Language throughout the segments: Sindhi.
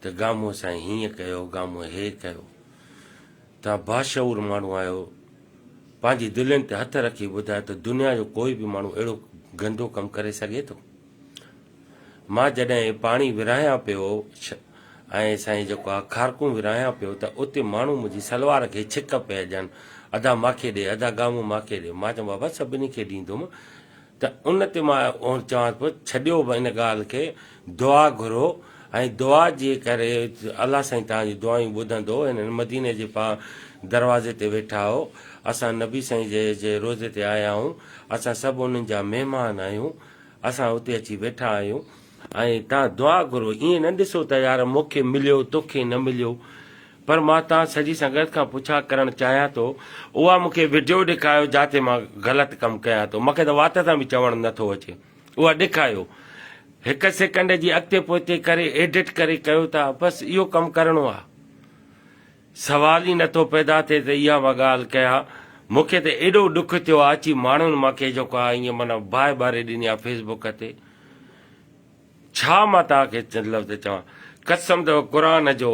ته گامو سائين هيئن ڪيو، گامو هي ڪيو. توهان باشعور ماڻهو آهيو، پنهنجي دلين تي هٿ رکي ٻڌايو ته دنيا جو ڪوئي به ماڻهو اهڙو گندو ڪم ڪري سگهي ٿو؟ مان جڏهن هي پاڻي ورهايان پيو ۽ سائين جيڪو آ کارڪون ورهايان پيو ته اتي ماڻهو منهنجي سلوار کي ڇڪ پيا ڏين، ادا ماکي ڏي، ادا گامو ماکي ڏي. مان چيم بابا سڀني کي ڏيندوم. ته ان تي مان اهو چوان ٿو ڇڏيو به ان ڳالهه کي دعا گهرو ۽ دعا جي ڪري الله سائين توهان جون دعائون ٻڌندو هنن مديني جي پا دروازي تي ويٺا آهو اسان نبي سائين جي جي روضي تي آيا آهون اسان سڀ انهن جا مهمان آهيون اسان اتي اچي ويٺا آهيون ۽ توهان دعا گهرو، ائين نه ڏسو ته يار مون کي مليو، تو کي نه مليو. پر مان توهان سڄي سنگت کان پڇا ڪرڻ چاهيان ٿو، اها مون کي وڊيو ڏيکايو جنهن تي مان غلط ڪم ڪيان ٿو. مون کي ته وات سان به چوڻ نه ٿو اچي. اها ڏيکايو. هڪ سيڪنڊ جي اڳتي پوئتي ڪري ايڊٽ ڪري ڪيو ٿا. بس اهو ڪم ڪرڻو آهي. سوال ئي نٿو پيدا ٿئي ته اها مان ڳالهه ڪيان. مون کي ته ايڏو ڏک ٿيو آ اچي ماڻهن مان ڪي جيڪو آ ائين معنيٰ باهه ٻاري ڏني آ فيس بڪ تي. ڇا مان توهان کي چند لفظ چوان. قسم اٿو قرآن جو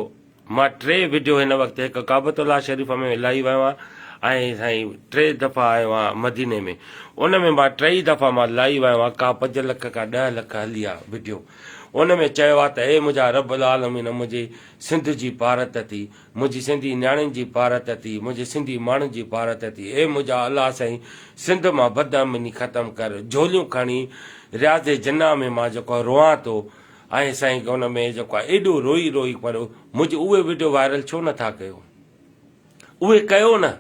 مان ٽي وڊيو هن وقت هڪ ڪعبت الله شريف ۾ لائي ويو آهيان ۽ سائين ٽي دفعا آيو آهيان مديني ۾ ان ۾ مان ٽئي دفعا مان لائي ويو آهيان ڪا پنج لک ڪا ڏهه لک هلي آ وڊيو ان ۾ چيو آ ته اي منهنجا رب العالمين منهنجي سنڌ جي پارت ٿي، منهنجي سنڌي نياڻين جي پارت ٿي، منهنجي سنڌي ماڻهن جي پارت ٿي، اي منهنجا الله سائين سنڌ مان بدامني ختم ڪر، جهوليون کڻي رياض جناح ۾ مان جيڪو آ روئان ٿو ۽ سائين ان ۾ جيڪو آ ايڏو روئي روئي پر منهنجي اهي وڊيو وائرل ڇو نه ٿا ڪيو اهي ڪيو نه.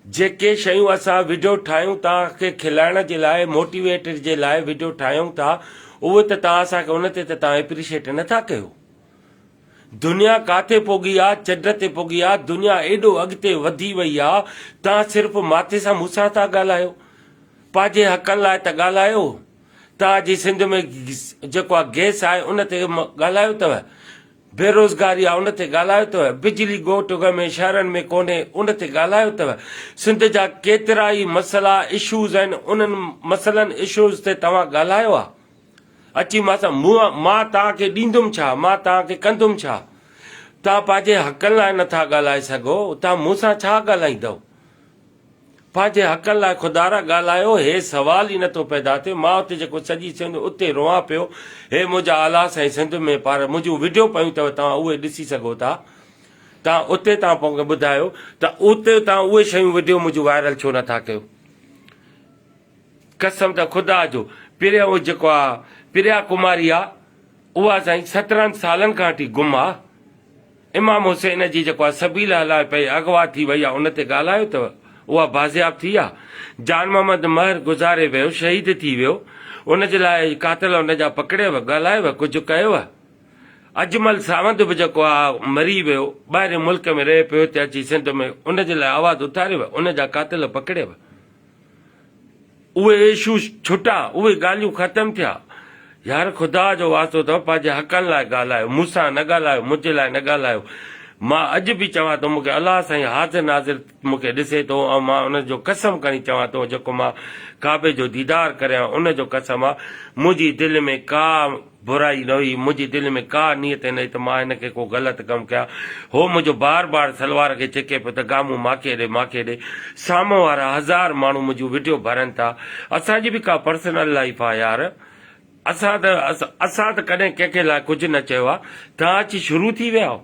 جيڪي شيون اسان وڊيو ٺاهيون توهان کي کلائڻ جي لاء موٽيويٽ جي لاء وڊيو ٺاهيون ٿا اهو ته توهان اسان کي ان تي ته توهان اپريشيٽ نه ٿا ڪيو دنيا ڪاٿي پوگهي آ چڊ تي پوگهي آ دنيا ايڏو اڳتي وڌي وئي آ توهان صرف ماٿي سان مون سان ٿا ڳالهايو پنهنجي حقن لاء ته ڳالهايو توهان جي سنڌ ۾ جيڪو آ گيس آهي ان تي ڳالهايو ته بيروزگاري آ ان تي ڳالهايو اٿو، بجلي ڳوٺ اڳ ۾ شهرن ۾ ڪونهي ان تي ڳالهايو اٿو، سنڌ جا ڪيترائي مسئلا اشوز آهن انهن مسئلن اشوز تي توهان ڳالهايو آ؟ اچي مان سان منهن مان توهان کي ڏيندم ڇا؟ مان توهان کي ڪندم ڇا؟ توهان پنهنجي حقن لاء نٿا ڳالهائي سگهو ته مون سان ڇا ڳالهائيندؤ؟ پنهنجي حقن لاء خدارا ڳالهايو هي سوال ئي نٿو پيدا ٿئي مان اتي جيڪو سڄي سنڌ اتي روئان پيو هي منهنجا آلا سائين سنڌ ۾ پار منهنجون وڊيو پيون اٿو توهان اهي ڏسي سگهو ٿا توهان اتي توهان پونکي ٻڌايو ته اتي توهان اهي شيون وڊيو منهنجون وائرل ڇو نٿا ڪيو قسم ته خدا جو پريا اهو جيڪو آ پريا ڪماري آ اها سائين سترهن سالن کان اٺي گم آ امام حسين جي جيڪو آ سبيل هلائي پئي اغوا ٿي وئي آ ان تي ڳالهايو ٿئو اها بازياب ٿي آ جان محمد مهر گذاري ويو شهيد ٿي ويو ان جي لاء قاتل ان جا پڪڙيو ڳالهايو ڪجهه ڪيو اجمل ساوند به جيڪو آ مري ويو ٻاهرين ملڪ ۾ رهي پيو هتي اچي سنڌ ۾ ان جي لاء آواز اٿاريو ان جا قاتل پڪڙيو اهي ايشو ڇٽا، اهي ڳالهيون ختم ٿيا. يار خدا جو واسطو اٿو پنهنجي حقن لاء ڳالهايو، مون سان نه ڳالهايو، منهنجي لاء نه ڳالهايو. مان اڄ به چوان ٿو مونکي الله سائين حاضر ناظر مونکي ڏسي ٿو ۽ مان ان جو قسم کڻي چوان ٿو جيڪو مان ڪعبي جو ديدار ڪريان ان جو قسم آ منهنجي دل ۾ ڪا برائي نه هئي، منهنجي دل ۾ ڪا نيت نه هئي ته مان هن کي ڪو غلط ڪم ڪيان. هو منهنجو بار بار سلوار کي ڇڪي پيو ته گامون ماکي ڏي، ماکي ڏي. سامهون وارا هزار ماڻهو منهنجون وڊيو ڀرن ٿا. اسان جي به ڪا پرسنل لائيف آ يار. اسان ته اسان ته ڪڏهن ڪنهن کي لاء ڪجهه نه چيو آ. توهان اچي شروع ٿي ويا آهيو.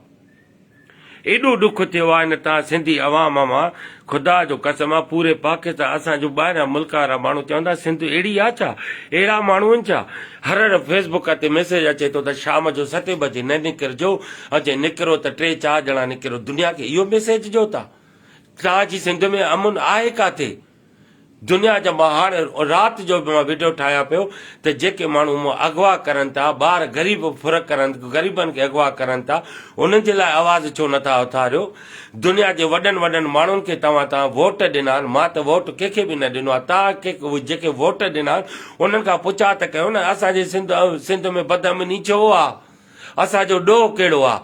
ايڏو ڏک ٿيو آ ان تان سنڌي عوام مان خدا جو قسم آ پوري پاڪستان اسان جو ٻاهريان ملڪ وارا ماڻهو چون ٿا سنڌ اهڙي آ ڇا اهڙا ماڻهو ان ڇا هر هر فيس بڪ تي ميسج اچي ٿو ته شام جو ستين بجي نه نڪر جو ۽ جي نڪرو ته ٽي چار ڄڻا نڪرو دنيا کي اهو ميسج ڏيو ٿا تان جي سنڌ ۾ امن آهي ڪاٿي. دنيا جا مهاڻ رات جو به مان وڊيو ٺاهيان پيو ته جيڪي ماڻهو مون اغوا ڪرن ٿا ٻار غريب ڦر ڪرن غريبن کي اغوا ڪرن ٿا انهن جي لاء آواز ڇو نه ٿا اٿاريو دنيا جي وڏن وڏن ماڻهن کي توهان تان ووٽ ڏنا آهن مان ته ووٽ ڪنهن کي به نه ڏنو آهي تان کي جيڪي ووٽ ڏنا آهن انهن کان پڇا ته ڪيو نه اسان جي سنڌ سنڌ ۾ بدامني ڇو آهي اسان جو ڏوهه ڪهڙو آ.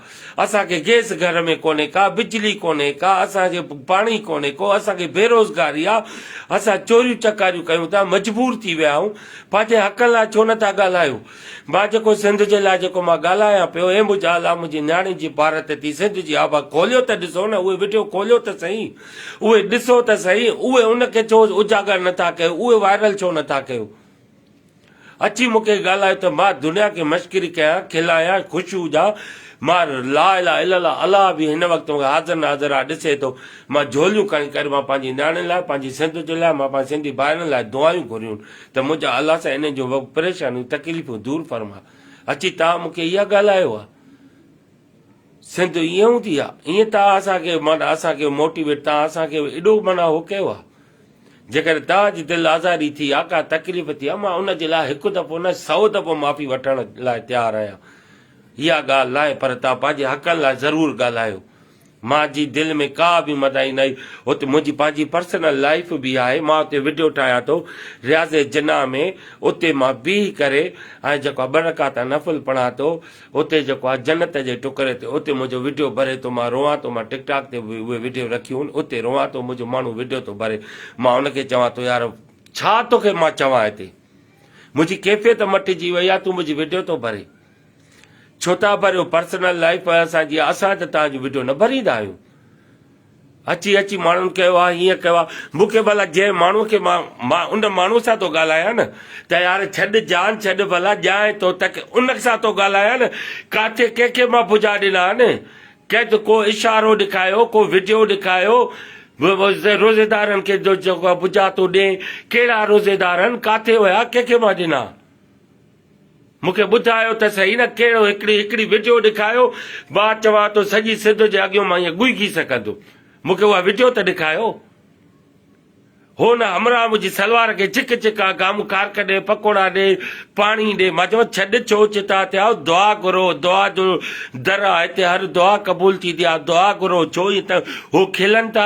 اسان کي گيس گهر ۾ ڪونهي ڪا، بجلي ڪونهي ڪا، اسان کي پاڻي ڪونهي ڪو، اسان کي بيروزگاري آ، اسان چوريون چڪاريون ڪيون ٿا، مجبور ٿي ويا آهيون، پنهنجي حقن لاء ڇو نٿا ڳالهايو؟ مان جيڪو سنڌ جي لاء جيڪو مان ڳالهايان پيو، اي منهنجا الله منهنجي نياڻين جي بارت ٿي سنڌ جي آبا کوليو ته ڏسو نه اهي وڊيو کوليو ته سهي اهي ڏسو ته سهي اهي ان کي ڇو اجاگر نٿا ڪيو اهي وائرل ڇو نٿا ڪيو. اچي مون کي ڳالهايو ته مان دنيا کي مشڪري ڪيان، کلايان، خوش هجان. مان لا اله الا الله، الله به هن وقت مون کي حاضر ناظر آ ڏسي ٿو. مان جهوليون کڻي ڪري مان پنهنجي نياڻين لاء، پنهنجي سنڌ جي لاء، مان پنهنجي سنڌي ڀائرن لاء دعائيون گهريون ته منهنجا الله سائين انهن جون پريشانيون، تڪليفون دور فرما. اچي توهان مون کي اها ڳالهايو آ. سنڌ ائين هوندي آ ائين تان اسان کي معنيٰ اسان کي موٽيويٽ تان اسان کي ايڏو معنيٰ هو ڪيو آ جيڪڏهن تان جي دل آزاري ٿي آ ڪا تڪليف ٿي آ مان ان جي لاء هڪ دفعو نه سئو دفعو معافي وٺڻ لاء تيار آهيان اها ڳالهه ناهي پر تان پنهنجي حقن لاء ضرور ڳالهايو مان جي دل ۾ ڪا به مدائي ناهي اتي منهنجي پنهنجي پرسنل لائيف به آهي مان اتي وڊيو ٺاهيان ٿو رياض جناح ۾ اتي مان بيهي ڪري ۽ جيڪو ٻه رڪعتا نفل پڙهان ٿو اتي جيڪو آ جنت جي ٽڪري تي اتي منهنجو وڊيو بري ٿو مان روئان ٿو مان ٽڪ ٽاڪ تي به اهي وڊيو رکيون هن اتي روئان ٿو منهنجو ماڻهو وڊيو ٿو بري مان ان کي چوان ٿو يار ڇا توکي مان چوان هتي منهنجي ڪيفيت مٽجي وئي آ تون منهنجي وڊيو ٿو بري ڇو ٿا بريو پرسنل لائف اسان جي اسان ته تان جو وڊيو نه بريندا آهيون اچي اچي ماڻهن ڪيو آ هيئن ڪيو آ مون کي ڀلا جنهن ماڻهو کي مان مان ان ماڻهو سان ٿو ڳالهايان نه ته يار ڇڏ جان ڇڏ ڀلا ڄائين ٿو تک ان سان ٿو ڳالهايان نه ڪاٿي ڪنهن کي مان ڀجا ڏنا آهن ڪنهن ته ڪو اشارو ڏکايو ڪو وڊيو ڏکايو روزيدارن کي جو ڀجا ٿو ڏين ڪهڙا روزيدار آهن ڪاٿي ويا ڪنهن کي مان ڏنا. مون کي ٻڌايو ته سهي نه ڪهڙو هڪڙي هڪڙي وڊيو ڏيکايو مان چوان ٿو سڄي سنڌ جي اڳيون مان ائين ڳوئگي سگهندو مون کي اها وڊيو ته ڏيکايو هو نه همراهه منهنجي سلوار کي چڪ چڪ آ گام کارڪ ڏي پڪوڙا ڏي پاڻي ڏي مان چوان ڇڏ ڇو چتا ٿيا آهو دعا گهرو دعا جو در آ هتي هر دعا قبول ٿيندي آ دعا گهرو ڇو ائين ته هو کلن ٿا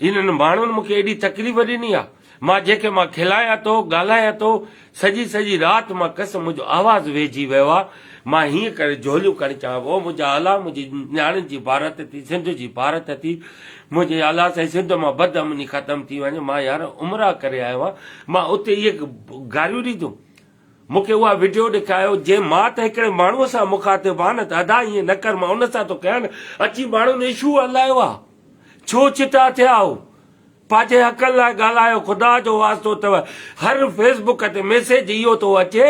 انهن ماڻهن مون کي ايڏي تڪليف ڏني آ مان جنهن کي مان کلايان ٿو ڳالهايان ٿو سڄي سڄي رات مان کس منهنجو آواز ويهجي ويو آ مان هيئن ڪري جهوليون کڻي چوان ٿو او منهنجا الا منهنجي نياڻين جي ڀارت ٿي سنڌ جي ڀارت ٿي منهنجي الا سائين سنڌ مان بد امني ختم ٿي وڃي مان يار عمره ڪري آيو آهيان مان اتي اهي گاريون ڏيندم مون کي اها وڊيو ڏيکايو جنهن مان ته هڪڙي ماڻهو سان مخاطب آن ته ادا ائين نه ڪر مان ان سان ٿو ڪيان اچي ماڻهن اشو هلايو آ ڇو چٽا ٿيا آهو پنهنجي حقن لاء ڳالهايو خدا جو واسطو اٿو هر فيس بڪ تي ميسيج اهو ٿو اچي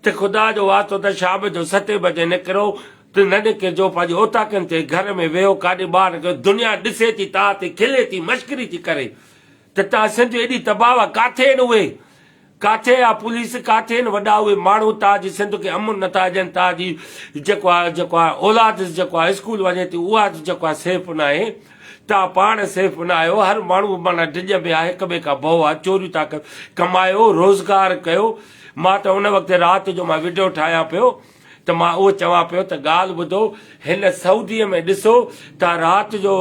ته خدا جو واسطو اٿو شام جو ستين بجي نڪرو ته نه نڪرجو پنهنجي اوطاقن تي گهر ۾ ويهو ڪاڏي ٻاهر نڪرو دنيا ڏسي ٿي توهان تي کلي ٿي مشڪري ٿي ڪري ته توهان سنڌ ايڏي تباهه ڪاٿي آهن اهي ڪاٿي آ پوليس ڪاٿي ان وڏا اهي ماڻهو تاج سنڌ کي امن نٿا ڏين تاج جيڪو آ جيڪو آ اولاد جيڪو آ اسڪول وڃي ٿي اها جيڪو آ سيف ناهي تان پاڻ سيف نه آهيو هر ماڻهو معنيٰ ڊڄ ۾ آ هڪ ٻئي کان ڀئو آ چوريون ٿا ڪيو ڪمايو روزگار ڪيو مان ته ان وقت رات جو مان وڊيو ٺاهيان پيو ته مان اهو چوان پيو ته ڳالهه ٻڌو هن سعودي ۾ ڏسو ته رات جو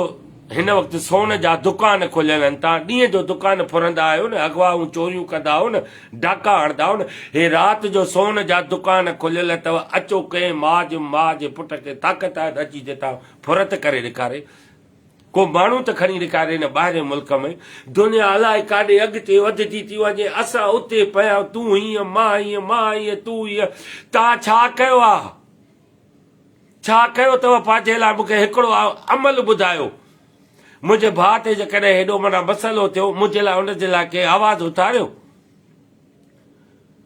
هن وقت سون جا دڪان کليل آهن تان ڏينهن جو دڪان ڦرندا آهيو نه اغواون چوريون ڪندا آهيو نه ڊاڪا هڻدا آهيو نه هي رات جو سون جا دڪان کليل اٿو اچو ڪنهن ماء جي ماء جي پٽ کي طاقت آهي ته اچي جتان ڦرت ڪري ڏيکاري ڪو ماڻهو ته کڻي ڏيکار هن ٻاهرين ملڪ ۾، دنيا الائي ڪاڏي اڳتي وڌجي ٿي وڃي، اسان اتي پيا تون هيئن مان هيئن مان هيئن تون هيئن، توهان ڇا ڪيو آ؟ ڇا ڪيو اٿو پنهنجي لاء مونکي هڪڙو عمل ٻڌايو. منهنجي ڀاء تي جيڪڏهن هيڏو معنيٰ مسئلو ٿيو منهنجي لاء ان جي لاء ڪنهن آواز اٿاريو؟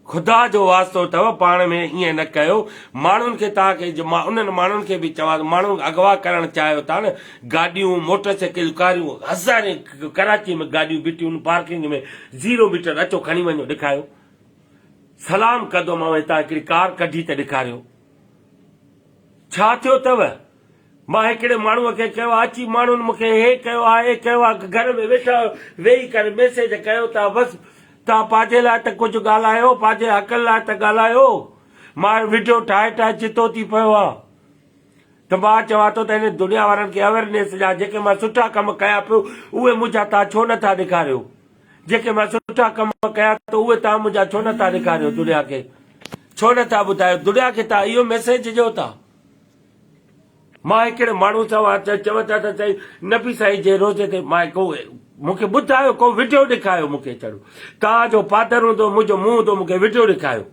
خدا جو واسطو اٿئو پاڻ ۾ ائين نه ڪيو ماڻهن کي توهان کي جو مان انهن ماڻهن کي به چوان ٿو ماڻهن اغوا ڪرڻ چاهيو ٿا نه گاڏيون موٽر سائيڪل ڪاريون هزارين ڪراچي ۾ گاڏيون بيٺيون پارڪنگ ۾ زيرو ميٽر اچو کڻي وڃو ڏيکاريو سلام ڪندومانو هتان هڪڙي ڪار ڪڍي ته ڏيکاريو ڇا ٿيو اٿئو مان هڪڙي ماڻهو کي ڪيو آ اچي ماڻهن مون کي هي ڪيو آ اي ڪيو آ گهر ۾ ويٺا ويهي ڪري ميسيج ڪيو ٿا بس توهان پاجي لاء ته ڪجهه ڳالهايو پاجي حقن لاء ته ڳالهايو مان وڊيو ٺاهي ٺاهي چتو ٿي پيو آ ته مان چوان ٿو ته هن دنيا وارن کي اويرنيس ڏيان جيڪي مان سٺا ڪم ڪيا پيو اهي منهنجا توهان ڇو نه ٿا ڏيکاريو جيڪي مان سٺا ڪم ڪيا ته اهي توهان منهنجا ڇو نه ٿا ڏيکاريو دنيا کي ڇو نه ٿا ٻڌايو دنيا کي توهان اهو ميسيج ڏيو ٿا. مان هڪڙي ماڻهو سان وات چيت چون ٿا ته سائين نبي سائين جي روضي تي مان ڪو مون کي ٻڌايو ڪو وڊيو ڏيکايو مون کي چڙو توهان جو فادر هوندو منهنجو منهن هوندو مون کي وڊيو ڏيکايو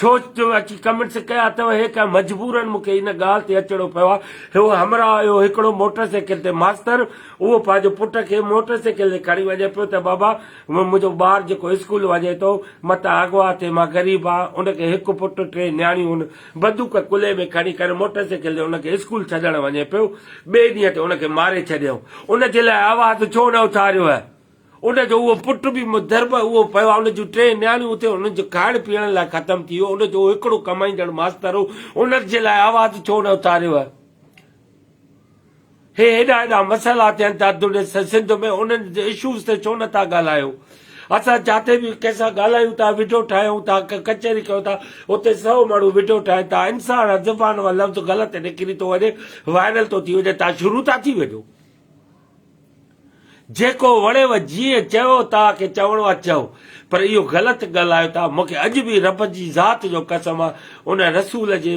ڇو اچي ڪمنٽس ڪيا اٿو هي ڪا مجبورن مون کي ان ڳالهه تي اچڻو پيو آهي هو همراهه هيو هڪڙو موٽر سائيڪل تي ماستر اهو پنهنجو پٽ کي موٽر سائيڪل تي کڻي وڃي پيو ته بابا منهنجو ٻار جيڪو اسڪول وڃي ٿو متان اغوا ٿئي مان غريب آهيان ان کي هڪ پٽ ٽي نياڻيون بدوڪ ڪلهي ۾ کڻي ڪري موٽر سائيڪل تي ان کي اسڪول ڇڏڻ وڃي پيو. ٻئي ڏينهن تي ان کي ماري ڇڏيائون. ان جي لاء آواز ڇو نه اٿاريو هئه؟ ان جو اهو پٽ به مضرب اهو پيو آهي. ان جون ٽي نياڻيون اتي هن جو کائڻ پيئڻ لاء ختم ٿي ويو. ان جو اهو هڪڙو ڪمائيندڙ ماستر هو. ان جي لاء آواز ڇو نه اٿاريو هئه؟ هي هيڏا هيڏا مسئلا ٿين ٿا ته ڏس سنڌ ۾ انهن اشوز تي ڇو نٿا ڳالهايو اسان جاتي به ڪنهن سان ڳالهايون ٿا وڊيو ٺاهيون ٿا ڪا ڪچهري ڪيون ٿا اتي سو ماڻهو وڊيو ٺاهين ٿا انسان جي زبان مان لفظ غلط نڪري ٿو وڃي وائرل ٿو ٿي وڃي تان شروع ٿا ٿي وڃو. جيڪو وڻيو جيئن چيو توهان کي چوڻو آ چئو پر اهو غلط ڳالهايو ٿا مون کي اڄ به رب جي ذات جو قسم آ ان رسول جي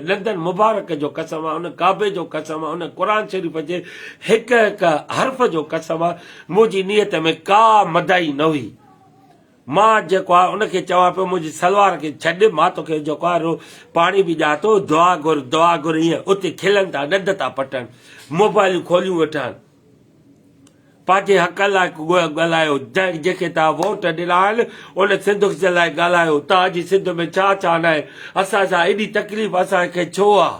ڏندن مبارڪ جو قسم آ ان ڪعبي جو قسم آ ان قرآن شريف جي هڪ هڪ حرف جو قسم آ منهنجي نيت ۾ ڪا مدائي نه هئي مان جيڪو آهي ان کي چوان پيو منهنجي سلوار کي ڇڏ مان توکي جيڪو آهي رو پاڻي به ڏيان ٿو دعا گهر دعا گهر ايئن اتي کلن ٿا ڏند ٿا پٽن موبائلون کوليون ويٺا آهن پنهنجي حق لاء ڳالهايو جيڪي تان ووٽ ڏنا آهن ان سنڌ جي لاء ڳالهايو تان جي سنڌ ۾ ڇا ڇا ناهي اسان سان ايڏي تڪليف اسان کي ڇو آهي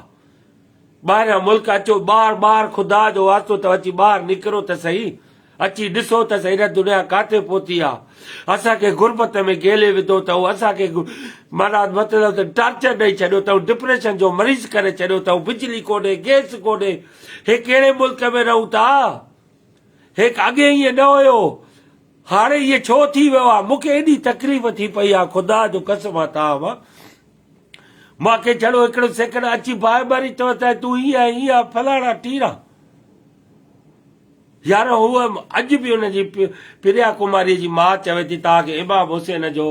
ٻاهريان ملڪ اچو ٻار ٻار خدا جو واسطو اٿو اچي ٻاهر نڪرو ته سهي اچي ڏسو ته سهي رت دنيا ڪاٿي پهتي آ اسان کي غربت ۾ گهيلي وڌو اٿئون اسان کي معنيٰ مطلب ته ٽارچر ڏئي ڇڏيو اٿئون ڊپريشن جو مريض ڪري ڇڏيو اٿئون بجلي ڪونهي گئس ڪونهي هي ڪهڙي ملڪ ۾ رهون ٿا هيڪ اڳي ائين نه هيو هاڻي ائين ڇو ٿي ويو آ مونکي ايڏي تڪليف ٿي پئي آ خدا جو قسم آ تان مانکي جھڙو ھڪڙو سيڪڙ اچي باھه ٻري چوي ته تون ھيء ۽ ھيء آھين فلاڻا ٽيڻا. يار ھوء اڄ به ان جي پريا ڪماريء جي ماء چوي ٿي توھان کي امام حسين جو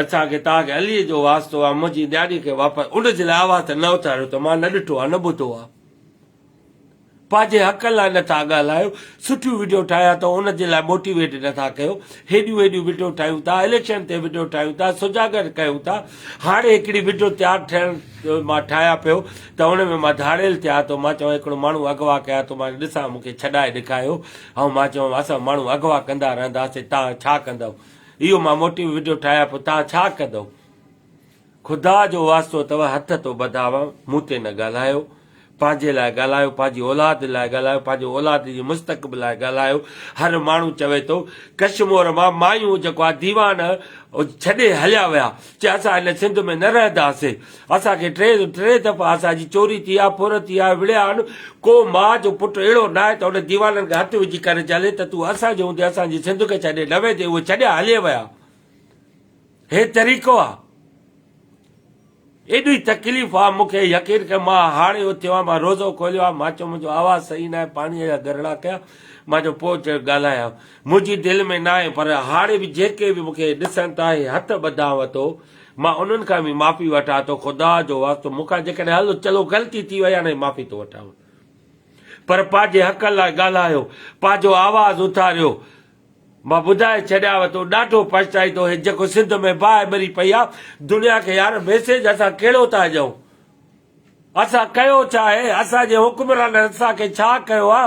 اسان کي توھان کي عليء جو واسطو آ منھنجي نياڻيء کي واپس اڙج لاء آواز ته نه اٿاريو ته مان نه ڏٺو آ نه ٻڌو آ. پنهنجي حق لاء نٿا ڳالهايو سٺيون وڊيو ٺاهيا ته ان جي لاء موٽيويٽ نٿا ڪيو هيڏيون هيڏيون وڊيو ٺاهيون ٿا اليڪشن تي وڊيو ٺاهيون ٿا سجاڳ ڪيون ٿا هاڻي هڪڙي وڊيو تيار ٺهڻ مان ٺاهيا پيو ته ان ۾ مان ڌاڙيل ٿيا ٿو مان چوان هڪڙو ماڻهو اغوا ڪيا ٿو مان ڏسان مون کي ڇڏائي ڏيکايو ۽ مان چوان اسان ماڻهو اغوا ڪندا رهنداسين تان ڇا ڪندو اهو مان موٽيو وڊيو ٺاهيا پيو تان ڇا ڪندو خدا جو واسطو اٿو هٿ ٿو ٻڌاوان مون تي نه ڳالهايو پنهنجي لاء ڳالهايو پنهنجي اولاد لاء ڳالهايو پنهنجي اولاد جي مستقبل لاء ڳالهايو هر ماڻهو چوي ٿو ڪشمور مان مايون جيڪو آ ديوان ڇڏي هليا ويا چي اسان هن سنڌ ۾ نه رهنداسي اسان کي ٽي ٽي دفعا اسان جي چوري ٿي آ ڦر ٿي آ وڙهيا آهن ڪو ماء جو پٽ اهڙو نه آهي ته ان ديوانن کي هٿ وجهي ڪري چلي ته تون اسان جي هوندي اسان جي سنڌ کي ڇڏي نه ويندي اهي ڇڏيا هلي ويا هي طريقو آ ايڏي تڪليف آ مونکي يقين ڪر مان هاڙهي اٿيو آهيان مان روزو کوليو آهي مان چيو منهنجو آواز صحيح ناهي پاڻي جا گرڙا ڪيا مان چيو پوء چيو ڳالهايان منهنجي دل ۾ ناهي پر هاڙهي به جيڪي به مونکي ڏسن ٿا هي هٿ ٻڌانء ٿو مان انهن کان به معافي وٺان ٿو خدا جو واسطو مونکان جيڪڏهن هل چلو غلطي ٿي وئي آهي نه معافي ٿو وٺان پر پنهنجي حق لاء ڳالهايو پنهنجو آواز اٿاريو مان ٻڌائي ڇڏياوء تو ڏاڍو پڇتائيندو هي جيڪو سنڌ ۾ باهه ٻري پئي آ دنيا کي يار ميسيج اسان ڪهڙو ٿا ڏيون اسان ڪيو ڇا آهي اسان جي حڪمرانن اسان کي ڇا ڪيو آ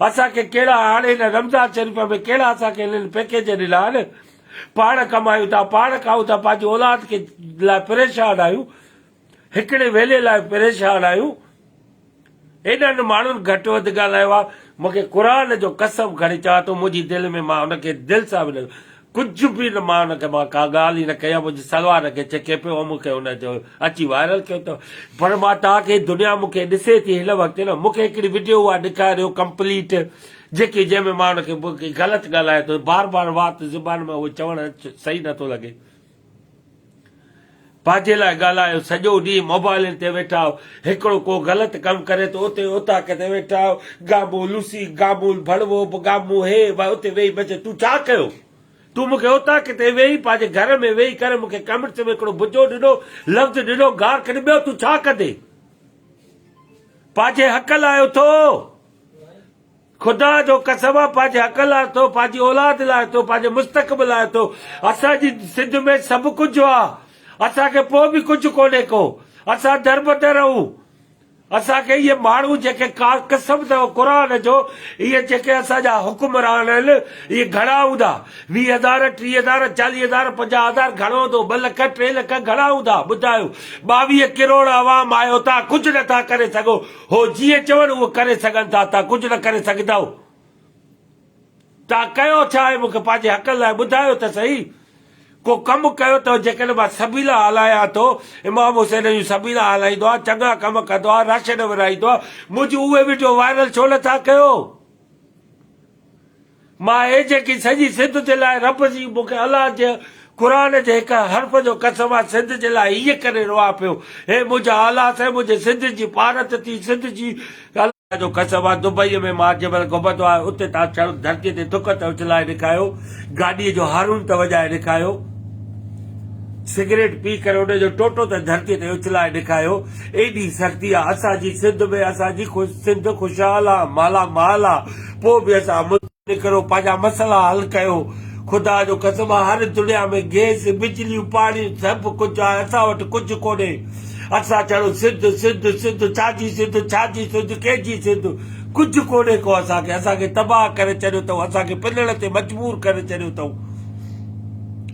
اسان کي ڪهڙا هاڻي هن رمضان شريف ۾ ڪهڙا اسان کي هنن پيڪيج ڏنا آهن پاڻ ڪمايون ٿا پاڻ کائون ٿا پنهنجي اولاد کي لاء پريشان آهيون هڪڙي ويلي لاء پريشان آهيون. هيڏنهن ماڻهن گهٽ وڌ ڳالهايو آهي. مون کي قرآن جو قسم کڻي چوان ٿو منهنجي دل ۾ مان هن کي دل سان به نه ڪجهه به نه مان هن کي مان ڪا ڳالهه ئي نه ڪئي آهي منهنجي سلوار کي ڇڪي پيو مون کي هن چيو اچي وائرل ٿيو ته پر مان توهان کي دنيا مون کي ڏسي ٿي هن وقت نه مون کي هڪڙي وڊيو اها ڏيکاريو ڪمپليٽ جيڪي جنهن ۾ مان هن کي غلط ڳالهايو ته بار بار وات زبان مان اهو چوڻ صحيح نه ٿو لڳي. پنهنجي لاء ڳالهايو، سڄو ڏينهن موبائلن تي ويٺا آهيو، هڪڙو ڪو غلط ڪم ڪري ته اتي اوطاق تي ويٺا آهيو، گامون لوسي، گامون ڀڙوو، گامون هي وه اتي ويهي بچي تون ڇا ڪيو؟ تون مون کي اوطاق تي ويهي پنهنجي گهر ۾ ويهي ڪري مون کي ڪمنٽس ۾ هڪڙو بجو ڏنو، لفظ ڏنو، گار ڪڍي ٻيو تون ڇا ڪندين؟ پنهنجي حق لاء اٿو. خدا جو قسم آ پنهنجي حق لاء اٿو پنهنجي اولاد لاء اٿو پنهنجي مستقبل لاء اٿو اسان جي سنڌ ۾ سڀ ڪجهه آ اسان کي پوء به ڪجهه ڪونهي ڪو اسان دربدر اهون اسان کي اهي ماڻهو جيڪي ڪا قسم اٿو قرآن جو اهي جيڪي اسان جا حڪمران آهن اهي گهڻا هوندا ويهه هزار ٽيهه هزار چاليهه هزار پنجاهه هزار گهڻو هوندو ٻه لک ٽي لک گهڻا هوندا ٻڌايو ٻاويهه ڪروڙ عوام آهيو تان ڪجهه نٿا ڪري سگهو هو جيئن چون هونء ڪري سگهن ٿا، تان ڪجهه نه ڪري سگهندؤ؟ تان ڪيو ڇا آهي؟ مون کي پنهنجي حقن لاء ٻڌايو ته سهي. ڪو ڪم ڪيو اٿئو جيڪڏهن مان سبيلا هلايان ٿو؟ امام حسين جون سبيلا هلائيندو آهيان، چڱا ڪم ڪندو آهيان، رش نه ورهائيندو آهيان، منهنجون اهي وڊيو وائرل ڇو نه ٿا ڪيو؟ مان اھي جيڪي سڄي سنڌ جي لاء رب جي مون کي الله جي قرآن جي ھڪ حرف جو قسم آھي سنڌ جي لاء ھيء ڪري رئا پيو اھي منھنجا آلاس اھي منھنجي سنڌ جي پارت ٿي سنڌ جي الله جو قسم آھي دبئي ۾ مان جنھن مھل گھمندو آھيان اتي تان سرد ڌرتي تي ٿڪ ته اڇلائي رکايو گاڏي جو ھارن ته وڄائي رکايو سگريٽ پي ڪري ان جو ٽوٽو ته ڌرتي تي اڇلائي رکايو ايڏي سختي آھي اسان جي سنڌ ۾ اسان جي سنڌ خوشحال آھي مالا مال آھي پوء به اسان منهن نڪرو پنهنجا مسئلا حل ڪيو. خدا جو قسم آ هر دنيا ۾ گيس، بجليون، پاڻي سڀ ڪجهه آهي اسان وٽ ڪجهه ڪونهي. اسان ڇڙو سنڌ سنڌ سنڌ ڇا جي سنڌ ڇا جي سنڌ ڪنهن جي سنڌ ڪجهه ڪونهي ڪو اسان کي اسان کي تباهه ڪري ڇڏيو اٿئون اسان کي پنڻ تي مجبور ڪري ڇڏيو اٿئون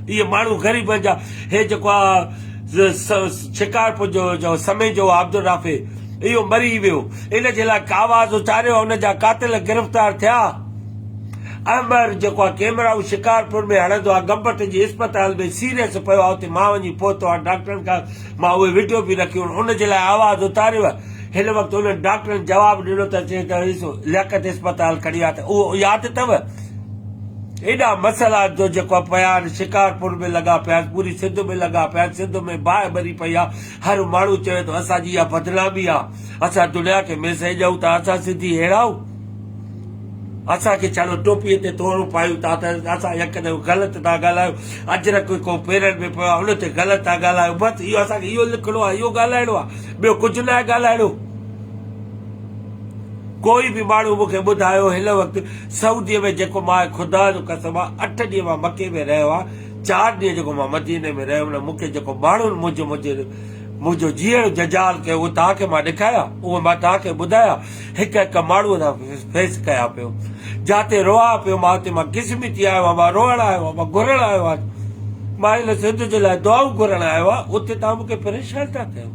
اهي ماڻهو غريبن جا هي جيڪو آ شڪارپور جو جو سمي جو عبدالرافي اهو مري ويو ان جي لاء ڪاواز اچاريو ۽ ان جا قاتل گرفتار ٿيا. احمر جيڪو آ ڪيمرائو شڪارپور ۾ هڻندو آ گمبٽ جي اسپتال ۾ سيريس پيو آ اتي مان وڃي پهتو آ ڊاڪٽرن کان مان اهي وڊيو به رکيون ان جي لاء آواز اتاريو آ هن وقت انهن ڊاڪٽرن جواب ڏنو ته چي ته ايسو لياقت اسپتال کڻي آ ته اهو ياد اٿو ايڏا مسئلا جو جيڪو آ پيا آهن شڪارپور ۾ لڳا پيا آهن پوري سنڌ ۾ لڳا پيا آهن سنڌ ۾ باهه ٻري پئي آ هر ماڻهو چوي ٿو اسان جي اها بدنامي آ اسان دنيا کي ميسيج ڏيون ٿا اسان سنڌي ههڙا آهون اسان کي ڇاڙو ٽوپي تي تورون پايون ٿا ته اسان يڪدم غلط ٿا ڳالهايو اجرڪ ڪو پيرن ۾ پيو آهي ان تي غلط ٿا ڳالهايو بس اهو اسان کي اهو لکڻو آهي اهو ڳالهائڻو آهي ٻيو ڪجهه نه آهي ڳالهائڻو ڪوئي به ماڻهو مونکي ٻڌايو هن وقت سعودي ۾ جيڪو ماء خدا جو قسم آهي اٺ ڏينهن مان مڪي ۾ رهيو آهي چار ڏينهن جيڪو مان مديني ۾ رهيم نه مون کي جيڪو ماڻهن منهنجو منهنجي منهنجو جيئڻ جنجال ڪيو اهي توهان کي مان ڏيکايا اهي مان توهان کي ٻڌايا هڪ هڪ ماڻهو سان فيس ڪيا پيو جاتي روئا پيو مان اتي مان قسمي ٿي آيو مان روئڻ آيو آهيان مان گهرڻ آيو آهيان مان هن سنڌ جي لاء دعائون گهرڻ آيو آهيان اتي توهان مون کي پريشان ٿا ڪيو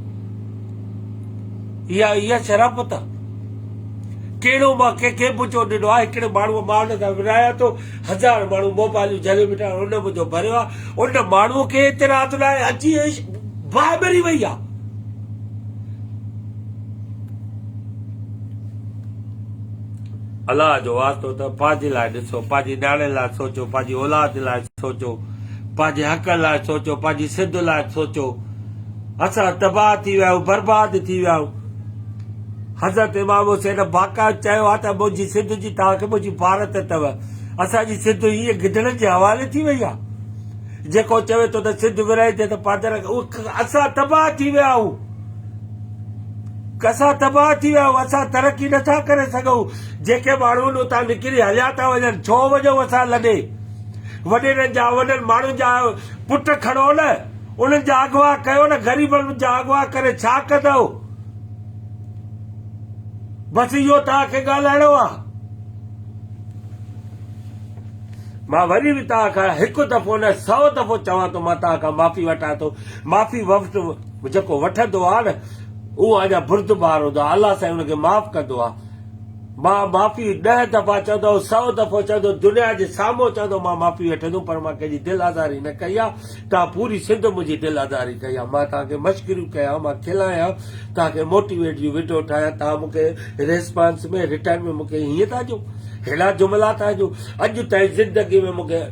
اها اها شرافت آهي ڪهڙو مان ڪنهن کي منهنجو ڏنو آهي هڪڙي ماڻهو مان هن سان ورايا ٿو هزار ماڻهو موبائلون جهليون بيٺا آهن ان منهنجو ڀريو آهي ان ماڻهو کي اعتراض لاء اچي باهه ٻري وئي آهي. الله جو واسطو ته پنهنجي لاء ڏسو پنهنجي نياڻي لاء سوچو پنهنجي اولاد لاء سوچو پنهنجي حق لاء سوچو پنهنجي سنڌ لاء سوچو اسان تباهه ٿي ويا آهيون برباد ٿي ويا آهيون حضرت امام حسين باقائد چيو آهي ته منهنجي سنڌ جي توهان کي منهنجي بارت اٿو. اسان جي سنڌ ائين گدڙن جي حوالي ٿي وئي آهي. جيڪو چوي ٿو ته سنڌ ورهائيندي ته پادر اسان تباهه ٿي ويا آهيون. اسان تباهه ٿي ويا آهيون. اسان ترقي نه ٿا ڪري سگهون. جيڪي ماڻهو آهن اتان نڪري هليا ٿا وڃن. ڇو وڃون اسان لڏي. وڏيرن جا انهن ماڻهن جا پٽ کڻو نه. انهن جا اغوا ڪيو نه. غريبن جا اغوا ڪري ڇا ڪندؤ. بس اهو توهان کي ڳالهائڻو آ. مان وري به توهان کان هڪ دفعو نه سئو دفعو چوان ٿو مان توهان کان معافي وٺان ٿو معافي وفت جيڪو وٺندو آ نه اهو اڃا بردبار هوندو آ الله سائين ان کي معاف ڪندو آ مان معافي ڏهه دفعا چوندو سئو دفعو چوندو دنيا جي سامهون چوندو مان معافي وٺندم پر مان ڪنهن جي دل آزاري نه ڪئي آ توهان پوري سنڌ منهنجي دل آزاري ڪئي آهي مان توهان کي مشڪريون ڪيان مان کلايان توهان کي موٽيويٽ جون وڊيو ٺاهيان توهان مون کي ريسپانس ۾ رٽرن ۾ مون کي هيئن ٿا ڏيو ههڙا جملا ٿا ڏيو اڄ تائين زندگي ۾ مون کي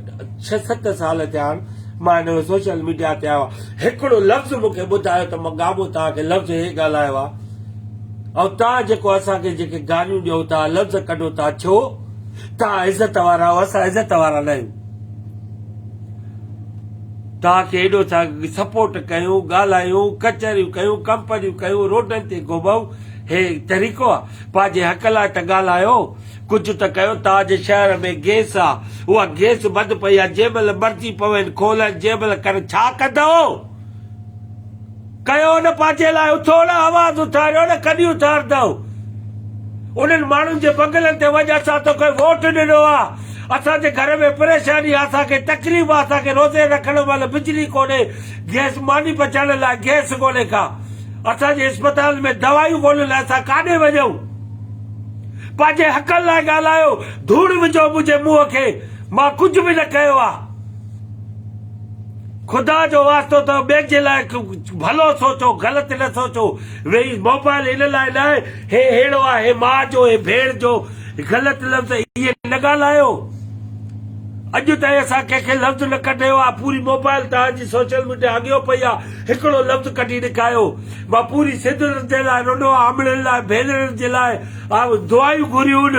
ڇهه ست سال ٿيا آهن مان هن سوشل ميڊيا تي آيو آهيان هڪڙو لفظ مون کي ٻڌايو ته مان گابو توهان کي لفظ هي ڳالهايو آهي ۽ توهان جيڪو اسان کي جيڪي گاريون ڏيو ٿا لفظ ڪڍو ٿا ڇو توهان عزت وارا آهيو اسان عزت وارا نه آهيون توهان کي ايڏو ٿا سپورٽ ڪيون ڳالهايون ڪچهريون ڪيون ڪمپنيون ڪيون روڊن تي گهمئون هي طريقو آ پنهنجي حق لاء ته ڳالهايو ڪجهه ته ڪيو توهان جي شهر ۾ گيس آ اها گيس بند پئي آ جنهن مهل مرضي پوين کولن جنهن مهل ڪرن ڇا ڪندئو ڪيو نه پنهنجي لاء اٿو نه آواز اٿاريو نه ڪڏهن اٿاردئو انهن ماڻهن جي بنگلن تي وڃ اسان توکي ووٽ ڏنو آ اسان جي گهر ۾ پريشاني آ اسان کي تڪليف آ اسان کي روزي رکڻ مهل بجلي ڪونهي گئس ماني پچائڻ لاء گئس ڪونهي ڪا اسان جي اسپتالن ۾ دوائيون ڪونهن ته اسان ڪاڏي وڃئون پنهنجي حقن لاء ڳالهايو ڌوڙ وجهو منهنجي منهن کي مان ڪجهه به نه ڪيو آ. خدا جو واسطو اٿئو ٻين جي لاء ڀلو سوچو غلط نه سوچو ويهي موبائل ان لاء نه آهي هي هيڙو آهي هي ماء جو هي ڀيڻ جو غلط لفظ اهي نه ڳالهايو اڄ تائين اسان ڪنهن کي لفظ نه ڪڍيو آهي پوري موبائل توهان جي سوشل ميڊيا اڳيو پئي آهي هڪڙو لفظ ڪڍي ڏيکايو مان پوري سنڌ جي لاء رنو آهي امڙين لاء ڀينرن جي لاء دعايون گهريون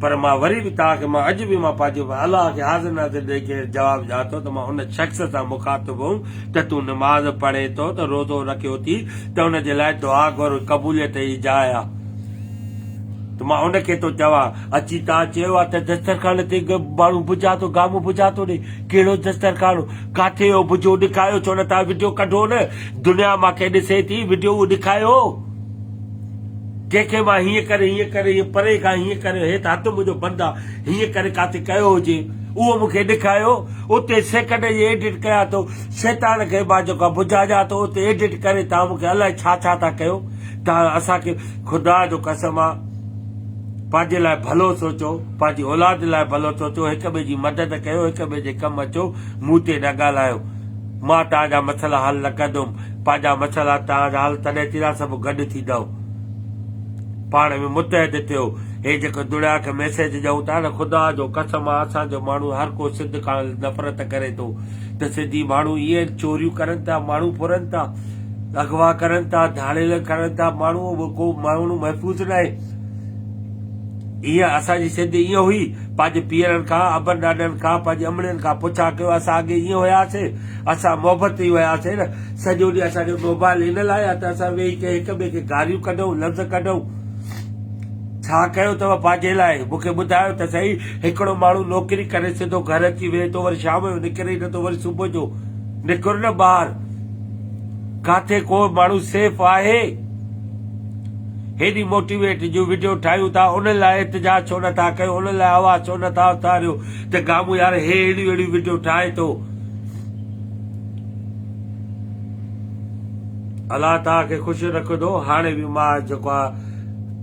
پر مان وري به توهان کي مان اڄ به مان پنهنجو به الله کي حاضر ناظر ڏئي ڪري جواب ڏيان ٿو ته مان ان شخص سان مخاطب هئم ته تون نماز پڙهين ٿو ته روزو رکيو ٿي ته ان جي لاء دعا گهر قبوليت جي جاء آ ته مان ان کي ٿو چوان اچي توهان چيو آ ته دسترخوان تي ماڻهو بجا ٿو گامو بجا ٿو ڏي ڪهڙو دسترخوان ڪاٿي هو بجو ڏيکايو ڇو نه توهان وڊيو ڪڍو نه دنيا مان کي ڏسي ٿي وڊيو ڏيکايو ڪنهن کي مان هيئن ڪري هيئن ڪري هيئن پري کان هيئن ڪري هيت هٿ منهنجو بند آ هيئن ڪري ڪاٿي ڪيو هجي اهو مون کي ڏيکايو اتي سيڪنڊ جي ايڊٽ ڪيا ٿو شيطان کي مان جيڪو آ بجاجان ٿو اتي ايڊٽ ڪري تان مون کي الائي ڇا ڇا ٿا ڪيو تان اسان کي خدا جو قسم آ پنهنجي لاء ڀلو سوچو پنهنجي اولاد لاء ڀلو سوچو هڪ ٻئي جي مدد ڪيو هڪ ٻئي جي ڪم اچو مون تي نه ڳالهايو مان تان جا مسئلا حل نه ڪندم پنهنجا مسئلا ته آز حل تڏهن ٿيندا سڀ گڏ ٿيندؤ پاڻ ۾ متحد ٿيو هي جيڪو دنيا کي ميسيج ڏيون ٿا نه خدا جو قسم آ اسان جو ماڻهو هر ڪو سنڌ کان نفرت ڪري ٿو ته سنڌي ماڻهو ائين چوريون ڪرن ٿا ماڻهو ڦرن ٿا اغوا ڪرن ٿا ڌاڙيل ڪرن ٿا ماڻهو به ڪو ماڻهو محفوظ نه آهي ائين اسان جي سنڌ ائين هئي پنهنجي پيرن کان ابن ڏاڏن کان پنهنجي امڙين کان پڇا ڪيو اسان اڳي ائين هياسي اسان محبت ۾ ئي هياسين نه، سڄو ڏينهن اسان کي موبائل ان لاء آهي ته اسان ويهي ڪنهن هڪ ٻئي کي گاريون ڪڍون، لفظ ڪڍون. ڇا ڪيو اٿو پنهنجي لاء؟ مون کي ٻڌايو ته سهي، هڪڙو ماڻهو نوڪري ڪري سڌو گهر اچي ويهي ٿو، وري شام جو نڪري ئي نٿو، وري صبح جو نڪر نه ٻاهر، ڪاٿي ڪو ماڻهو سيف آهي؟ هيڏي موٽيويٽ جون وڊيو ٺاهيون ٿا، انهن لاء احتجاج ڇو نٿا ڪيو، انهن لاء آواز ڇو نٿا اٿاريو ته گامون يار هي اهڙيون اهڙيون وڊيو ٺاهي ٿو، الله توهان کي خوش رکندو هاڻي به مان جيڪو آهي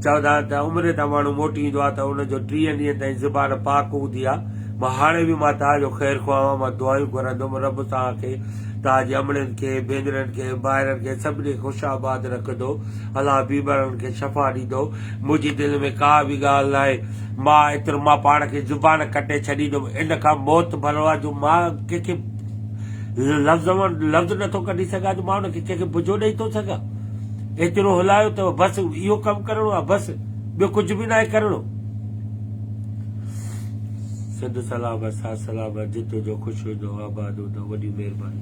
چوندا آهن ته عمري تان ماڻهو موٽي ايندو آهي ته ان جو ٽيهن ڏينهن تائين زبان پاڪ هوندي آهي مان هاڻي به مان توهان جو خير خواهه آهيان مان دعائون گهرندم رب توهان کي توهان جي امڙين کي ڀينرن کي ڀائرن کي سڀني کي خوش آباد رکندو الله بيمارن کي شفا ڏيندو منهنجي دل ۾ ڪا به ڳالهه ناهي. مان ايترو مان پاڻ کي زبان ڪٽي ڇڏيندم ان کان موت ڀلو آ جو مان ڪنهن کي لفظ مان لفظ نٿو ڪڍي سگهان جو مان ان کي ڪنهن کي بجو ڏئي ٿو سگهان. ايترو هلايو اٿئو بس اهو ڪم ڪرڻو آ بس ٻيو ڪجهه به ناهي ڪرڻو. سنڌ سلامت ساٿ سلامت جتو جو خوش هجندو آباد هجندو وڏي مهرباني.